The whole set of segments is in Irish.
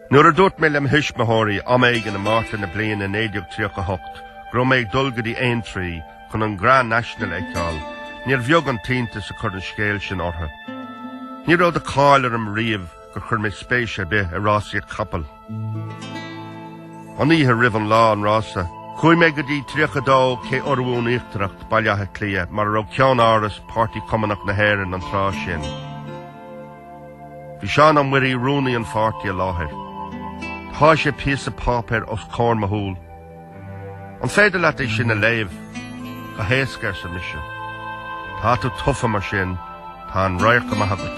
Nuair a dúirt mé le mo thuismitheoirí am éigin i Márta na bliana 1938 go raibh mé ag dul go dtí Aintree chun an Grand National a fheiceáil, níor bheag an t-iontas a chuir an scéal sin orthu. Ní raibh de cháil orm riamh gur chuir mé spéis ar bith i rásaíocht chapall. An oíche roimh an lá an rása, chuaigh mé go dtí 32 Cé Urmhumhan Íochtarach, Baile Átha Cliath, mar a raibh ceann-áras Páirtí Cumannach na hÉireann an tráth sin. Bhí Seán Ó Muirí, rúnaí an pháirtí, i láthair. Sháigh sé píosa páipéir os comhair mo shúl. An féidir leat é sin a léamh? Go héasca, arsa mise. Tá tú tofa mar sin, tá an radharc go maith agat.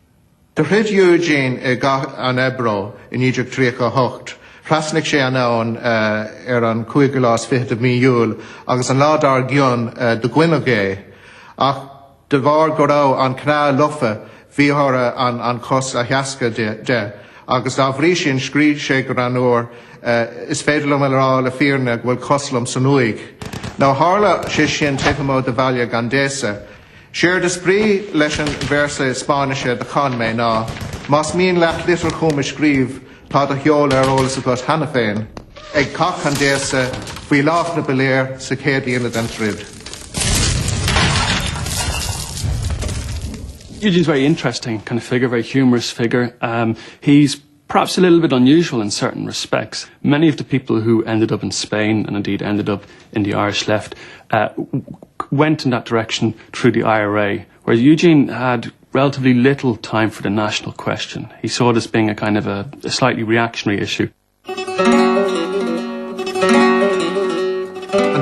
Do throid Eugene i gCath an Ebro i 1938. Thrasnaigh sé an abhainn ar an cúigiú lá is fiche de Mhí Iúil agus an lá dár gcionn do goineadh é. Ach de bharr go raibh an cneá lofa bhí orthu an chos a theascadh de agus dá bhrí sin scríobh sé go greannúr Is féidir liom a rá le fírinne go bhfuil cos liom san uaigh. Nó tharla sé sin taobh amuigh de bhaile Gandesa. Séard is brí leis an véarsa Spáinnise do chan mé ná, más mian leat litir chugam a scríobh, tá mo sheoladh ar eolas agat cheana féin ag cath Gandesa, faoi lámhach na bpiléar, sa chéad líne den troid. It is very interesting kind of figure, very humorous figure. Um, he's Perhaps a little bit unusual in certain respects, many of the people who ended up in Spain and indeed ended up in the Irish left eh went in that direction through the IRA whereas Eugene had relatively little time for the national question. He saw it as being a kind of a a slightly reactionary issue. An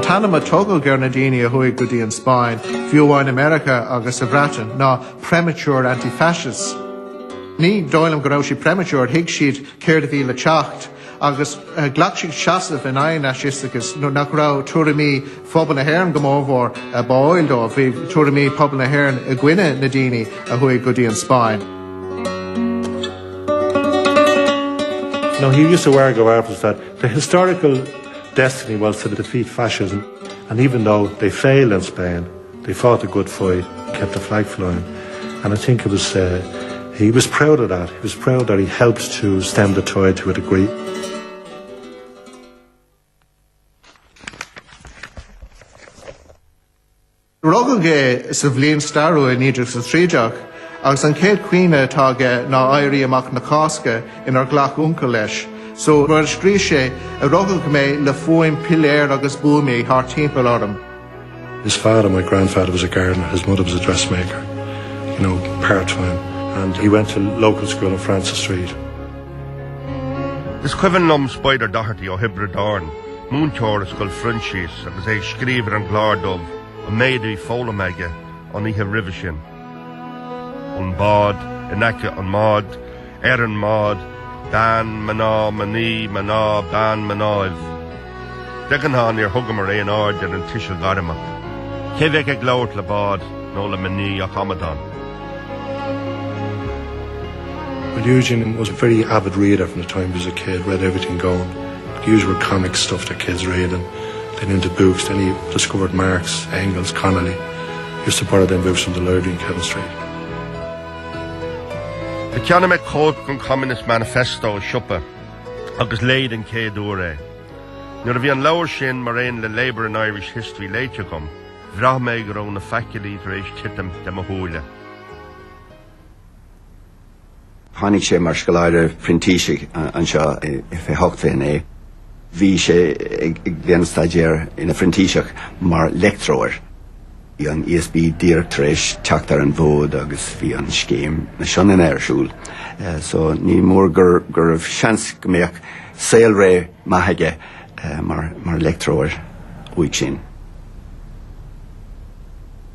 t-ainm a tugadh ar na daoine a chuaigh go dtí an Spáinn, fiú amháin i Meiriceá agus sa Bhreatain, ná premature anti-fascists. Ní dóigh liom go raibh siad premature, thuig siad céard a bhí le teacht agus ghlac siad seasamh in aghaidh an fhaisisteachais nuair nach raibh tuairimí phobal na hÉireann go mórmhór báúil dóibh, bhí tuairimí pobal na hÉireann i gcoinne na daoine a chuaigh go dtí an Spáinn. Now he used to argue that the historical destiny was to defeat fascism and even though they failed in Spain, They fought a good fight, kept the flag flying and I think it was eh he was proud of that, he was proud that he helped to stem the tide to a degree. Rugadh é sa bhliain stairiúil 1913 agus an chéad chuimhne atá aige ná Éirí Amach na Cásca inar ghlac uncail leis so mar a scríobh sé, ó rugadh mé le fuaim piléar agus buamaí thart timpeall orm. His father, my grandfather, was a gardener. His mother was a dressmaker, you know, part-time. And he went to local school in Francis Street. Is cuimhin liom Spider Doherty ó Thiobraid Árann, múinteoir i Scoil Phroinsias agus é ag scríobh ar an gclár dubh an méid a bhí foghlamtha aige an oíche roimhe sin. an bád, in aice an bháid, ar an mbád, bean, mná, mnaoi, mná, ban, mnáibh. De ghnáth níor thugamar aon aird ar an tuiseal gairmeach, cé bheadh ag labhairt le bád nó le mnaoi ach amadán. Well Eugene was a very avid reader from the time he was a kid, read everything going, the usual comic stuff that kids read and then into books, then he discovered Marx, Engels, Connolly. Is the paradigm view from the Lurgan chemistry. Do cheannaigh mé cóip den Communist Manifesto i siopa agus léigh den chéad uair é. Nuair a bhí an leabhar sin mar aon le Labour in Irish History léite agam, bhraith mé go raibh na fachailí tar éis titim de mo shúile. Tháinig sé mar scoláire printísigh anseo i fiche hocht fiche naoi. Bhí sé ag déanamh staidéar ina phrintíseach mar leictreoir. Bhí an ESB díreach tar éis teacht ar an bhfód agus bhí an scéim na Sionainne ar siúl so ní mór go raibh seans go mbeadh saolré maith aige mar leictreoir uaidh sin.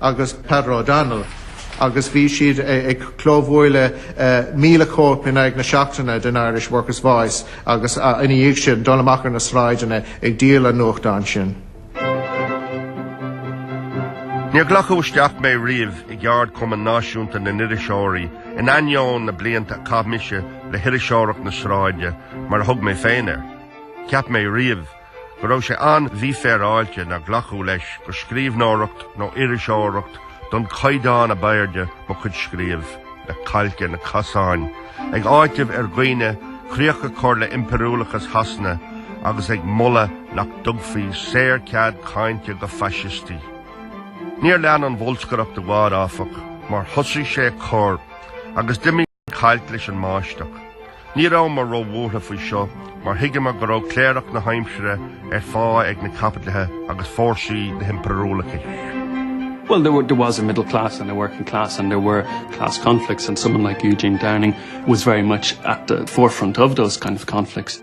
agus Peadar O'Donnell agus bhí siad ag clóbhualadh míle cóip in aghaidh na seachtaine den Irish Workers Voice agus ina dhiaidh sin dul amach ar na sráideanna ag díol an nuachtáin sin. Níor glacadh isteach mé riamh i gCeardchumann Náisiúnta na nIriseoirí in ainneoin na blianta a chaith mise le hiriseoireacht na sráide mar a thug mé féin air. Cheap mé riamh go raibh sé an-mhífhéaráilte nár glacadh leis gur scríbhneoireacht nó iriseoireacht den chaighdeán ab airde mo chuid scríobh le cailc ar na casáin, ag áiteamh ar dhaoine críoch a chur le impiriúlachas Shasana agus ag moladh nach dtugfaí saorchead cainte do faisistí. Níor lean an bholscaireacht i bhfad, áfach, mar thosaigh sé ag cur agus d'imigh. cailc leis an mbáisteach. Ní rabhamar ró-bhuartha faoi seo mar thuigeamar go raibh cléireach na haimsire ar phá ag na caipitlithe agus fórsaí na himpiriúlachais. Well, there, were, there was a middle class and a working class, and there were class conflicts, and someone like Eugene Downing was very much at the forefront of those kind of conflicts.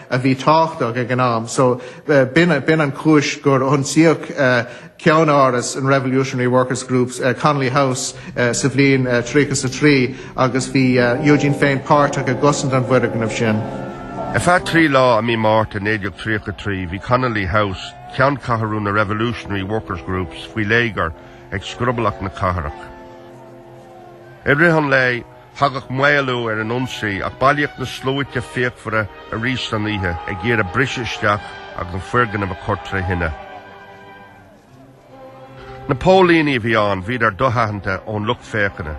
a bhí tábhachtach ag an am. So b'in an chúis gur ionsaíodh ceannáras an Revolutionary Workers Groups, Connolly House sa bhliain 30 is a trí agus bhí Eugene féin páirteach i gcosaint an bhfoirgnimh sin. Ar feadh trí lá i mí Márta 1933 bhí Connolly House, ceanncheathrú na Revolutionary Workers Groups faoi léigear ag scroblach na cathrach. I rith an lae Thagadh maolú ar an ionsaí ach bailíodh na sluaite fíochmhara arís san oíche ag iarraidh briseadh isteach agus an foirgneamh a chur tré thine. Na póilíní a bhí ann bhíodar do-aitheanta ón lucht féachana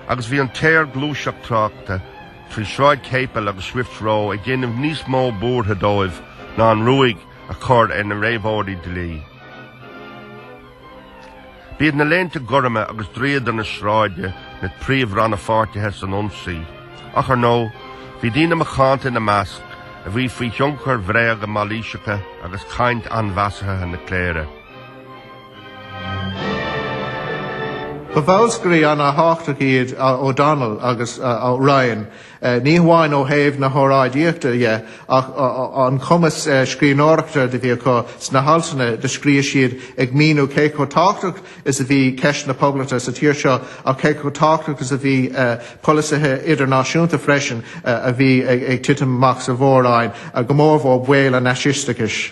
agus bhí an tsaorghluaiseacht tráchta trí Sráid Chéipil agus Swift's Row ag déanamh níos mó buartha dóibh ná an ruaig a chur ar na réabhóirí dlí. B'iad na Léinte Gorma agus dríodar na sráide na príomh-rannpháirtithe san ionsaí, ach ar ndóigh, bhí daoine macánta ina measc a bhí faoi thionchar bhréaga mailíseacha agus caint ainmheasartha na cléire. Ba bholscairí an-thábhachtacha iad O'Donnell agus Ryan ní hamháin ó thaobh na horáidíochta dhe ach an cumas scríbhneoireachta do bhí acu sna haltanna do scríobh siad ag míniú cé chomh tábhachtach is a bhí ceist na Poblachta sa tír seo ach cé chomh tábhachtach is a bhí polasaithe idirnáisiúnta freisin a bhí ag titim amach sa Mhór-Roinn, go mór mór baol an fhaisisteachais.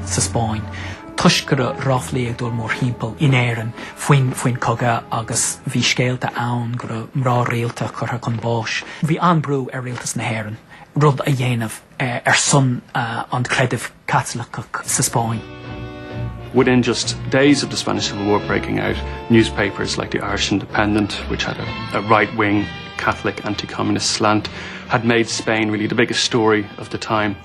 sa Spáinn, toisc go raibh ráflaí ag dul mórthimpeall in Éirinn faoin chogadh agus bhí scéalta ann go raibh mná rialta curtha chun báis. Bhí an-bhrú ar Rialtas na hÉireann rud a dhéanamh ar son an chreidimh Chaitlicigh sa Spáinn. Within just days of the Spanish Civil War breaking out, newspapers like the Irish Independent, which had a right-wing Catholic anti-communist slant, had made Spain really the biggest story of the time.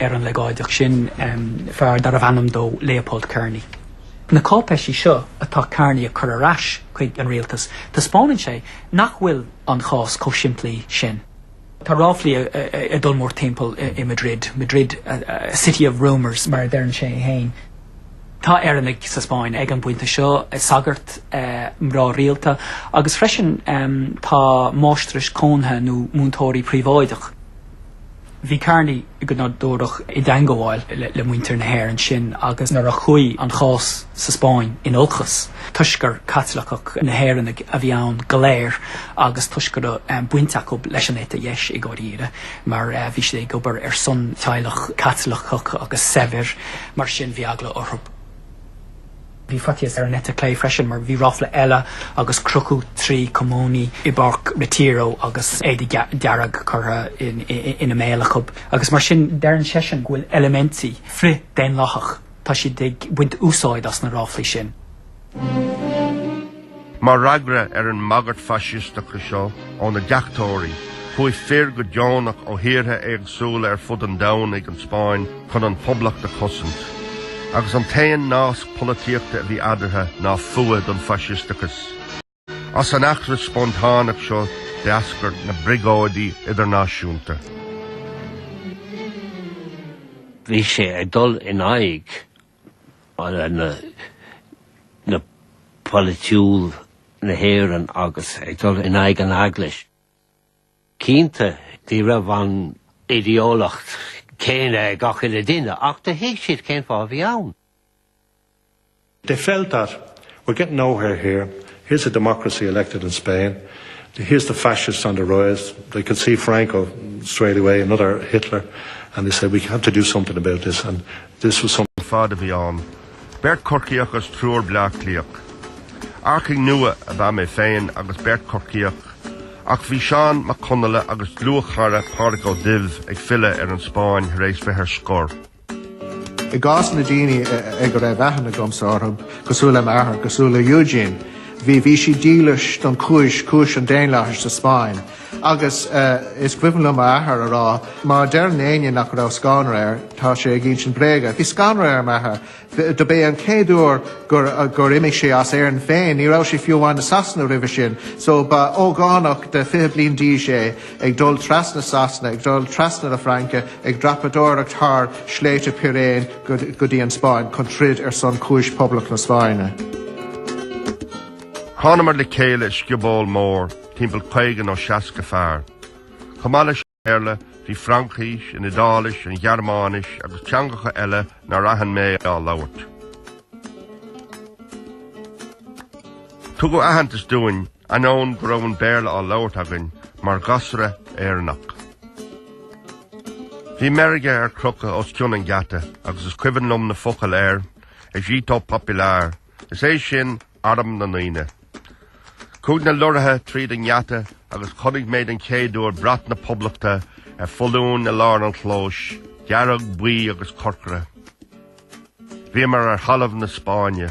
ar an leagáideach sin fear darbh ainm dó Leopold Kerney. Na cáipéisí seo atá Kerney ag cur ar ais chuig an Rialtas, taispeánann sé nach bhfuil an chás chomh simplí sin. Tá ráflaí ag dul mórthimpeall i Madrid, Madrid a city of rumours mar a deireann sé féin. Tá Éireannaigh sa Spáinn ag an bpointe seo, sagairt, mná rialta agus freisin tá máistreás cónaithe nó múinteoirí príobháideach. Bhí Kerney go nádúrach i dteangabháil le muintir na hÉireann sin agus nuair a chuaigh an chás sa Spáinn in olcas toisc gur Caitliceach na hÉireannaigh a bhí ann go léir agus toisc go raibh baint acu leis an eite dheis i gcóir a rá mar bhí siad ag obair ar son teaghlach Caitliceach agus saibhir mar sin bhí eagla orthu. Bhí faitíos ar an eite chlé freisin mar bhí ráfla eile agus crochadh trí cumannaí i bPáirc Retiro agus éadach dearg curtha ina mbéal acu agus mar sin deireann seisean go bhfuil eilimintí frith-daonlathach, tá siad ag baint úsáid as na ráflaí sin. Mar fhreagra ar an mbagairt faisisteach seo ó na deachtóirí, chuaigh fir go deonach ó thíortha éagsúla ar fud an domhain chuig an Spáinn chun an Poblacht a chosaint. Agus an t-aon nasc polaitíochta a bhí eadartha ná fuath don faisisteachas. As an eachtra spontáineach seo d'eascair na Briogóidí Idirnáisiúnta. Bhí sé ag dul in aghaidh na polaitiúil na hÉireann agus ag dul in aghaidh an Eaglais. Cinnte, ní raibh an idé-eolaíocht céanna ag gach uile duine ach do thuig siad cén fáth a bhí ann. They felt that, We're getting nowhere here. Here's a democracy elected in Spain. Here's the fascists on the rise. They could see Franco straight away, another Hitler, and they said, we have to do something about this. And this... fad a bhí ann, beirt Chorcaíoch agus triúr Bleá Cliathach. Earcaigh nua ab ea mé féin agus beirt Chorcaíoch, ach bhí Seán Mac Conalla agus a dhlúthchara Pádraig Ó Duibh ag filleadh ar an Spáinn thar éis bheith ar scor. I gcás na daoine ag a raibh aithne agamsa orthu, cosúil le m'athair, cosúil le Eugene, bhí bhí siad dílis don chúis, cúis an daonlathais sa Spáinn. Agus is cuimhin liom m'athair a rá, má deireann aon duine nach raibh scanradh air, tá sé ag insint bréaga. Bhí scanradh ar m'athair. Do b'é an chéad uair gur gur imigh sé as Éirinn féin, ní raibh sé fiú amháin i Sasana roimhe sin, so ba ógánach de fiche bliain d'aois é, ag dul trasna Sasana, ag dul trasna na Fraince, ag dreapadóireacht thar shléibhte Piréin go dtí an Spáinn chun troid ar son chúis Poblacht na Spáinne. Thánamar le chéile i scioból mór, timpeall caoga nó seasca fear. Chomh maith leis an Bhéarla, bhí Fraincis, an Iodáilis, an Ghearmáinis agus teangacha eile nár aithin mé á labhairt. Tugadh aitheantas dúinn Ainneoin go raibh an Béarla á labhairt againn mar ghasra Éireannach. Bhí meirge ar crochadh os cionn an gheata agus is cuimhin liom na focail air, Ejército Popular, is é sin arm na ndaoine. Chuaigh na lorraithe tríd an ngeata agus chonaic mé den chéad uair brat na Poblachta ar foluain i lár an chlóis, dearg, buí agus corcra. Bhíomar ar thalamh na Spáinne.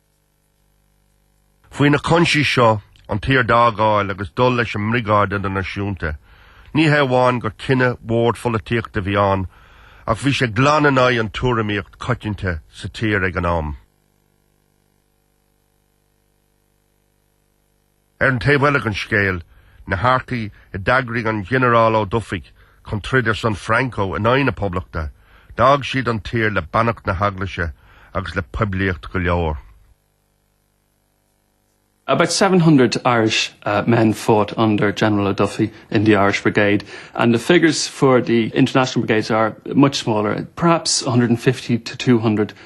Faoi na coinsí seo, an tír a fhágáil agus dul leis an mBriogáid Idirnáisiúnta, ní hé amháin gur cinneadh mór polaitíochta a bhí ann ach bhí sé glan in aghaidh an tuairimíocht coitianta sa tír ag an am. Ar an taobh eile den scéal, na hearcaigh a d'eagraigh an Ginearál Ó Dufaigh chun troid ar son Franco in aghaidh na Poblachta, d'fhág siad an tír le beannacht na hEaglaise agus le poiblíocht go leor. About seven hundred Irishmen fought under General O'Duffy in the Irish Brigade and the figures for the International Brigades are much smaller, perhaps one hundred and fifty to two hundred.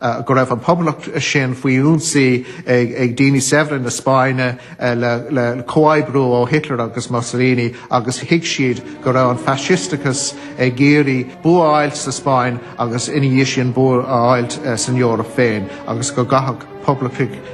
go raibh an Poblacht sin faoi ionsaí ag daoine saibhre na Spáinne le comhoibriú ó Hitler agus Mussolini agus thuig siad go raibh an Faisisteachas ag iarraidh bua a fháilt sa Spáinn agus ina dhiaidh sin bua a fháilt san Eoraip féin agus go gcaithfeadh Poblachtaigh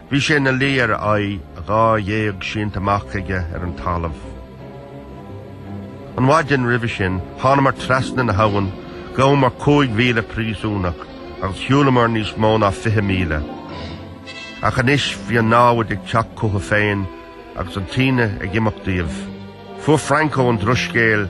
Bhí sé ina luí ar a aghaidh, a dhá ghéag sínte amach aige ar an talamh. An mhaidin roimhe sin, thánamar trasna na habhann, ghabhamar cúig mhíle príosúnach agus shiúlamar níos mó ná fiche míle. Ach anois bhí an námhaid ag teacht chucu féin agus an taoide ag imeacht díobh. Fuair Franco an drochscéal.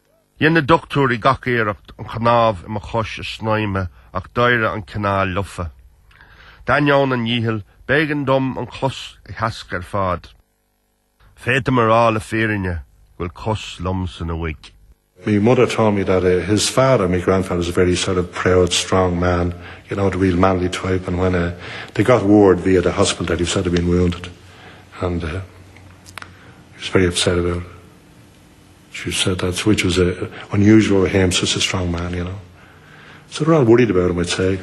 Dhein na doctúirí gach iarracht an chnámh i mo chois a shnaidhmeadh ach d'éirigh an chneá lofa. D'ainneoin a ndícheall b'éigean dóibh an chos a theascadh ar fad. Féadaim a rá le fírinne go bhfuil cos liom san uaigh. My mother told me that his father, my grandfather, was a very sort of proud, strong man, you know, the real manly type and when eh they got word via the hospital that he was said to have been wounded and eh he was very upset about it. She said that which was unusual with him, such a strong man, you know. So they were all worried about him, I'd say.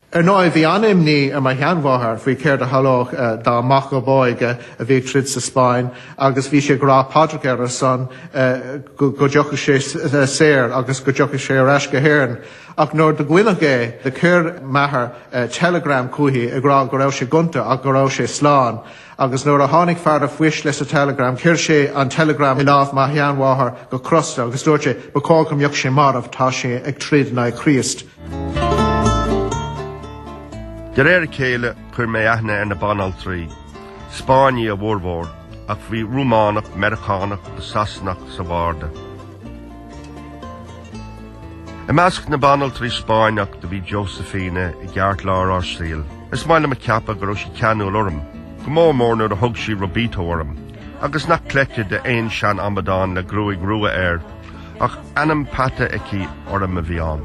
Ar ndóigh, bhí an-imní ar mo sheanmháthair faoi céard a tharlódh dá mac ab óige a bhí ag troid sa Spáinn agus bhí sí ag rá paidreacha ar a shon go dtiocfadh sé saor agus go dtiocfadh sé ar ais go hÉirinn. Ach nuair do goineadh é, do chuir m'athair telegram chuici ag rá go raibh sé gonta ach go raibh sé slán. Agus nuair a tháinig fear an phoist leis an teileagram chuir sé an teileagram i láimh mo sheanmháthar go crosta agus dúirt sé ba chóir go mbeadh sé marbh tá sé ag troid in aghaidh Chríost. De réir a chéile chuir mé aithne ar na banaltraí. Spáinnigh a bhformhór ach bhí Rúmánach, Meiriceánach agus Sasanach sa bharda. I measc na banaltraí Spáinneach do bhí Josefina i gceartlár ár saoil. Is maith liom a ceapadh go raibh sí ceanúil orm, go mór mór nuair a thug sí Robito orm, agus nach cleite d'aon seanamadán le gruaig rua air, ach ainm peata aici orm a bhí ann.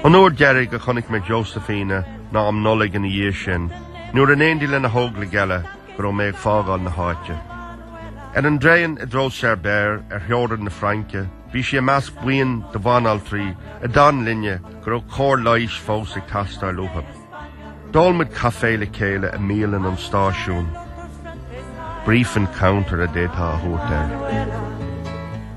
An uair deiridh a chonaic mé Josefina ná um Nollaig ina dhiaidh sin, nuair in éindí lena hóglaigh eile, go raibh mé ag fágáil na háite. Ar an dtraen i dtreo Cerbère ar theorainn na Fraince bhí sí i measc buíon de bhanaltraí a d'fhan linne mar go raibh cóir leighis fós ag teastáil uathu. D'ól muid caife le chéile i mbialann an stáisiúin. Brief encounter a d'fhéadfá a thabhairt air.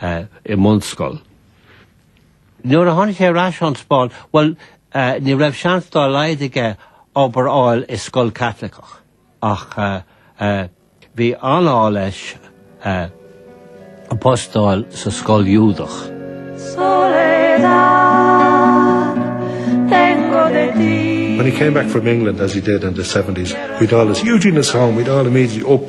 i mbunscoil. Nuair a tháinig sé ar ais ón Spáinn, bhuel, ní raibh seans dá laghad aige obair fháil i scoil Caitliceach, ach bhí an-ádh leis post a fháil sa scoil Iúdach. When he came back from England, as he did in the seventies, we'd all, ah Eugene is home, we'd all immediately up,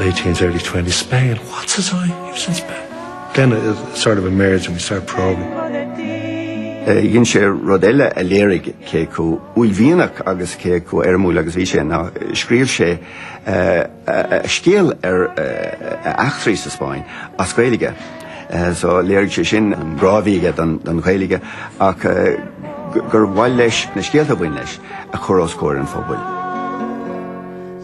Late teens, early twenties, Spain, what's this I, he was in Spain. Then it sort of emerged and we started probing. Dhein sé rud eile a léirigh cé chomh uaillmhianach agus cé chomh éirimiúil agus a bhí sé ná scríobh sé scéal ar a eachtraí sa Spáinn as Gaeilge. So léirigh sé sin an grá a bhí aige don Ghaeilge ach gur mhaith leis na scéalta a bhain leis a chur os comhair an phobail.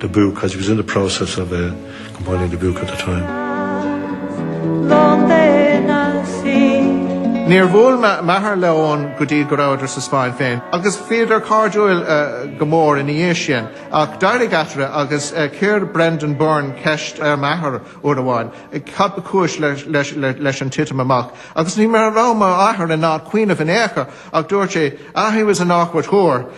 the book as he was in the process of eh compiling the book at the time. Níor bhuail m'athair le Eoghan go dtí go rabhadar sa Spáinn féin agus bhíodar cairdiúil go mór ina dhiaidh sin. Ach d'éirigh eatarthu agus chuir Brendan Byrne ceist ar m'athair uair amháin cad ba chúis leis an titim amach agus ní raibh m'athair in ann cuimhneamh in aon chor ach dúirt sé, Ah he was an awkward hoor.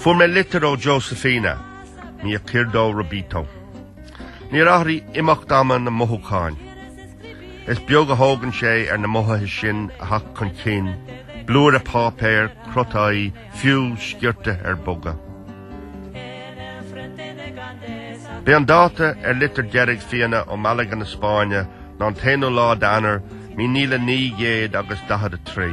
Fuair mé litir ó Josefina, mi querido rubito. Níor athraigh imeacht ama na mothúcháin. Is beag a thógann sé ar na mothúcháin sin a theacht chun cinn, blúire páipéir, crotáí, fiú sciorta ar bogadh. B'é an dáta a bhí ar litir deiridh Josefina ó Malaga na Spáinne ná an t-aonú lá d'Eanáir míle naoi gcéad agus daichead a trí.